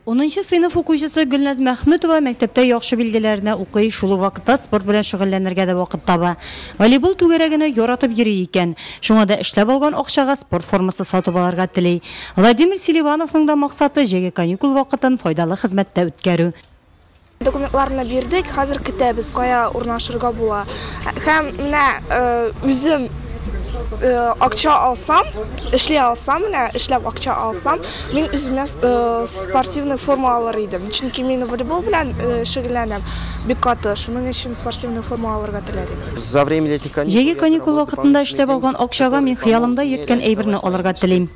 Унынчы сыйныф укучысы Гөлназ Мәхмүтова мәктәптә яхшы билгеләренә укый, шул ук вакытта спорт белән шөгыльләнергә дә вакыт таба. Волейбол түгәрәгенә яратып йөри икән. Шуңа да эшләп алган акчага спорт формасы сатып алырга тели. Владимир Селивановның да максаты, җәйге каникул вакытын файдалы хезмәттә үткәрү. Документларны бирдек, хәзер көтәбез, кая урнашырга була. Һәм менә үзем акча алсам, эшли алсам, менә эшләп акча алсам, мин үземә спортивный форма алыр идем. Чөнки мин волейбол белән шөгыльләнәм бик каты. Шуның өчен спортивный форма алырга теләр идем. За время этих каникул Җәйге каникул вакытында эшләп алган акчага мин хыялымда йөрткән әйберне алырга телим.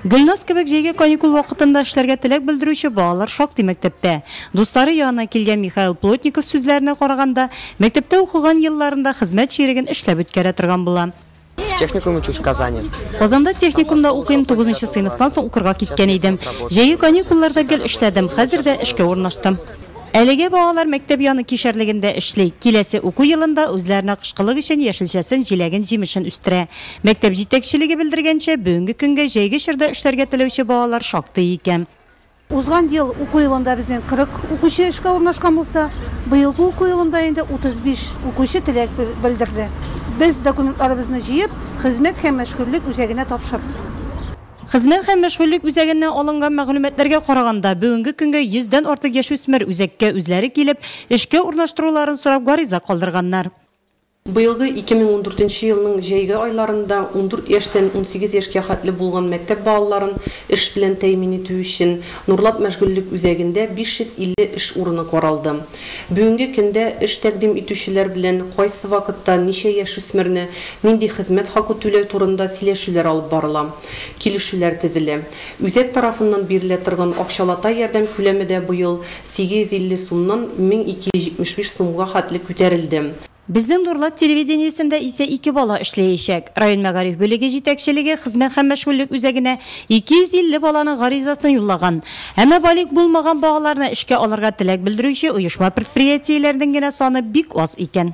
Гөлназ кебек җәйге каникул вакытында эшләргә теләк белдерүче балалар шактый мәктәптә. Дуслары янына килгән Михаил Плотников сүзләренә караганда, мәктәптә укыган елларында хезмәт чиреген эшләп үткәрә торган була. В техникуме учусь в Казани. Казанда техникумда укыйм, тугызынчы сыйныфтан соң укырга киткән идем. Җәйге каникулларда гел эшләдем, хәзер дә эшкә урнаштым. Әлегә балалар мәктәп яны кишәрлегендә эшли, киләсе уку елында үзләренә кышкылык өчен яшелчәсен, җиләген, җимешен үстерә. Мәктәп җитәкчелеге белдергәнчә, бүгенге көнгә җәйге чорда эшләргә теләүче балалар шактый икән. Узган ел уку елында безнең 40 укучы эшкә урнашкан булса, быелгы уку елында инде 35 укучы теләк белдерде. Без документларыбызны җыеп, Хезмәт һәм мәшгульлек үзәгенә тапшырдык. Хезмәт һәм мәшгульлек үзәгеннән алынган мәгълүматларга караганда, бүгенге көнгә 100 дән артык яшүсмер үзәккә үзләре килеп, эшкә урнаштыруларын сорап гариза калдырганнар. Быелгы 2014 нче елның җәйге айларында ундүрт яшьтән унсигез яшькә хәтле булган мәктәп балаларын эш белән тәэмин итү өчен Нурлат мәшгульлек үзәгендә 550 эш урыны каралды. Бүгенге көндә эш тәкъдим итүчеләр белән кайсы вакытта ничә яшүсмерне нинди хезмәт хакы түләү турында сөйләшүләр алып барыла, килешүләр тезелә. Үзәк тарафыннан бирелә торган акчалата ярдәм күләме дә быел 850 сумнан 1275 сумга хәтле күтәрелде. Безнең Нурлат телевидениесендә исә ике бала эшләячәк. Район мәгариф бүлеге җитәкчелеге хезмәт һәм мәшгульлек үзәгенә 250 баланың гаризасын юллаган. Әмма балигъ булмаган балаларны эшкә алырга теләк белдерүче оешма-предприятиеләрнең генә саны бик аз икән.